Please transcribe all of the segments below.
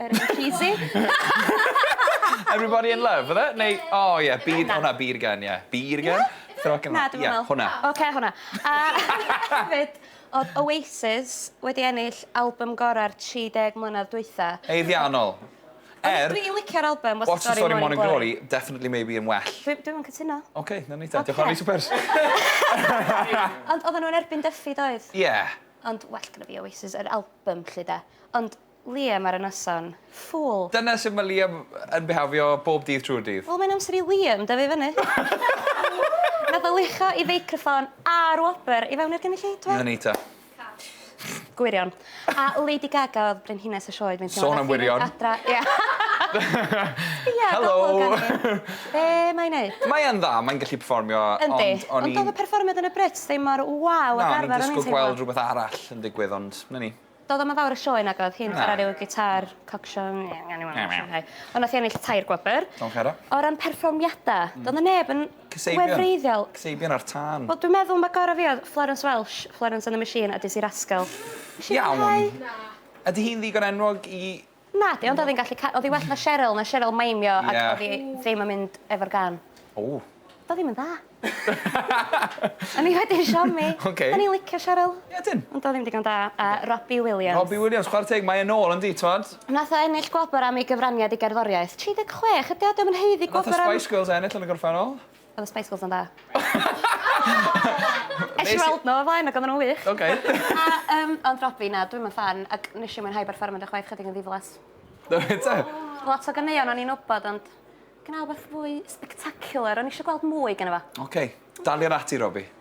Yr un cheesy. Everybody in love, oedd e? Neu, o oh, ie, yeah, byd, hwnna, byd gen, ie. Byd gen? Throw Na, dim yn meddwl. Hwna. Oce, hwnna. A hefyd, oedd Oasis wedi ennill album gorau'r 30 mlynedd dwytha. Eiddiannol. Er... Dwi'n licio'r album, What's the Story Morning Glory, definitely maybe yn well. Dwi'n cytuno. Oce, na ni ta. Diolch o'n i super. Ond oedden nhw'n erbyn Duffy, doedd? Ie. Ond well gyda fi Oasis, yr album, lle da. Ond Liam ar y noson. Ffŵl. Dyna sut mae Liam yn bihafio bob dydd trwy'r dydd. Wel mae'n amser i Liam dyfu fyny. Nath o lucho i feicroffon a'r wobr i fewn i'r gynulleidfa. 'Na ni ta. Gwirion. A Lady Gaga oedd brenhines y sioe dwi'n teimlo. Sôn am wirion. Adra ia. Sbia ar golwg arni. Be mae'n neud? Mae yn dda, mae'n gallu perfformio ond o'n i'n... Yndi, ond oedd y perfformiad yn y Brits ddim mor waw ag arfer o'n i'n teimlo. Na, o'n i'n disgwyl gweld rhywbeth arall yn digwydd ond 'na ni. Doedd o'm yn fawr o sioe nag oedd, hi'n chwarae ryw gitâr coc-siong ond nath hi ennill tair gwobr. Diolch Hera. O ran perfformiada, doedd 'na neb yn wefreiddiol. Kasabian ar tân. Wel dwi'n meddwl ma' gora' fi oedd Florence Welsh, Florence and the Machine a Dizzee Rascal. Iawn. Ydi hi'n ddigon enwog i Nadi ond oedd hi'n gallu ca- oedd hi well na Cheryl na Cheryl maimio ac oedd hi ddim yn mynd efo'r gân. Ww. Doedd ddim yn dda. O'n i wedi siomi. Oce. O'n i'n licio Cheryl. Ie ydyn. Ond doedd ddim digon da a Robbie Williams. Robbie Williams chwara teg mae e nôl yndi t'mod? Nath o ennill gwobr am ei gyfraniad i gerddoriaeth. 36 ydi o 'di o'm yn haeddu gwobr am... Nath y Spice Girls ennill yn y gorffennol. Oedd y Spice Girls yn dda. Esh i weld nhw o flaen ac oedden nhw'n wych. Oce. A yym ond Robbie na dwi'm yn ffan ac nes i mwynhau berfformiad â chdi chwaith chydig yn ddiflas. Do fe ta? Lot o ganeuon o'n i'n wybod ond gwna wbath fwy spectacular o'n i isio gweld mwy gynno fo. Oce daliad ati Robbie.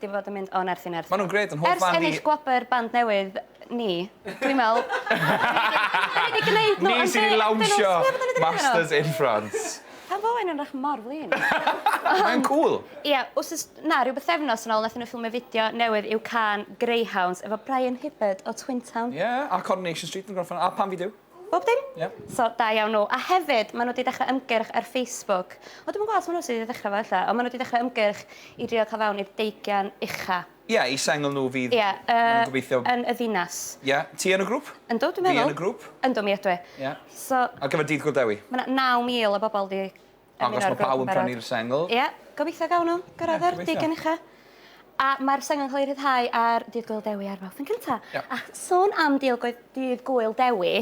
'di fod yn mynd o nerth i nerth. Ma' nw'n grêt yn hoff fan fi. Ers ennill gwobr band newydd ni, dwi'n me'wl... Ni wedi gneud n'w yn be' ydyn n'w... Ni sy' 'di lawnsio Masters in France. Pam fo enw rach mor flin? Mae'n cŵl. Ia wsos na ryw bythefnos yn ôl nathon n'w ffilmio fideo newydd i'w cân Greyhounds efo Brian Hibbard o Twin Town. Ie a Coronation Street yn gorffan a Pam fi Duw. Bob dim? Ie. So, da iawn nhw. A hefyd, maen nhw wedi dechrau ymgyrch ar Facebook. O, dwi'm yn gwybod os maen nhw sydd wedi dechrau fo ella, ond maen nhw wedi dechrau ymgyrch i drio cael fewn i'r deugain ucha. Ie, i sengl nhw fydd... Ie, yy, yn y ddinas. Ie. Ti yn y grŵp? Yndw, dwi'n meddwl. Fi yn y grŵp? Yndw, mi ydw i. Ie. So... Ar gyfer Dydd Gŵyl Dewi? Mae 'na 9,000 o bobl wedi Dangos bod pawb yn prynu'r sengl. Ie, gobeithio gawn nhw gyrraedd yr digon ucha. A mae'r sengl yn cael ei rhyddhau ar Dydd Gwyl Dewi ar Fawrth yn cynta. A sôn am Dydd Gwyl, Dydd Gwyl Dewi,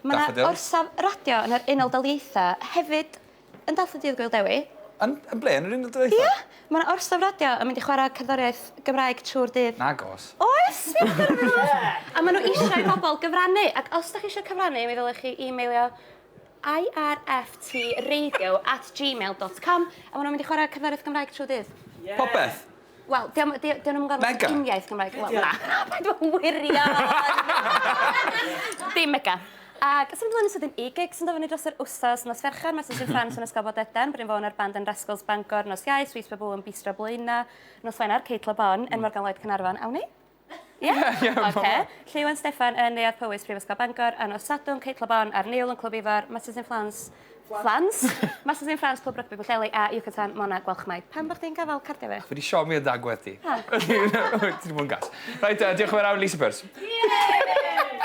mae yna orsaf radio yn yr Unol Daleithiau hefyd yn dathlu Dydd Gwyl Dewi. Yn ble? Yn yr Unol Daleithiau? Ie, mae yna orsaf radio yn mynd i chwarae cerddoriaeth Gymraeg trwy'r dydd. Nag oes. Oes! A maen nhw eisiau i bobl gyfrannu. Ac os da chi eisiau cyfrannu, mi ddylech chi e-mailio IRFTradio at gmail dot com A maen nhw'n mynd i chwarae cerddoriaeth Gymraeg trwy dydd? Ie! Popeth? Wel, dyn nhw ddim yn gorfod bod yn uniaith Gymraeg. Wel, na. Paid â wirion! Dim mega. Ac symud ymlaen yn sydyn i gig sy'n dod fyny dros yr wsos, nos Fercher, Mercers in France yn Ysgol Bodedan, Bryn Fôn a'r band yn Rascals Bangor, nos Iau, Sweets Baboo yn Bistro Blaenau, nos Wener, Kate Le Bon yn Morgan Lloyd Caernarfon. Awn ni? Ie? Ie, ie. Oce. Lleuwen Steffan yn Neuadd Powys, Prifysgol Bangor, a nos Sadwrn, Cate Le Bon a'r Nil yn Clwb Ifor, Masters in Flans, Flans? Masters in Flans, Clwb Rygbi Pwllheli a Yucatan, Mona Gwalchmai. Pam bo' chdi'n gafal cardia fi? Fi 'di siomi o dan gwddf ti. O! Ti 'di bod yn gas. Reit te, diolch am yr awr Lisa Purse. Ie!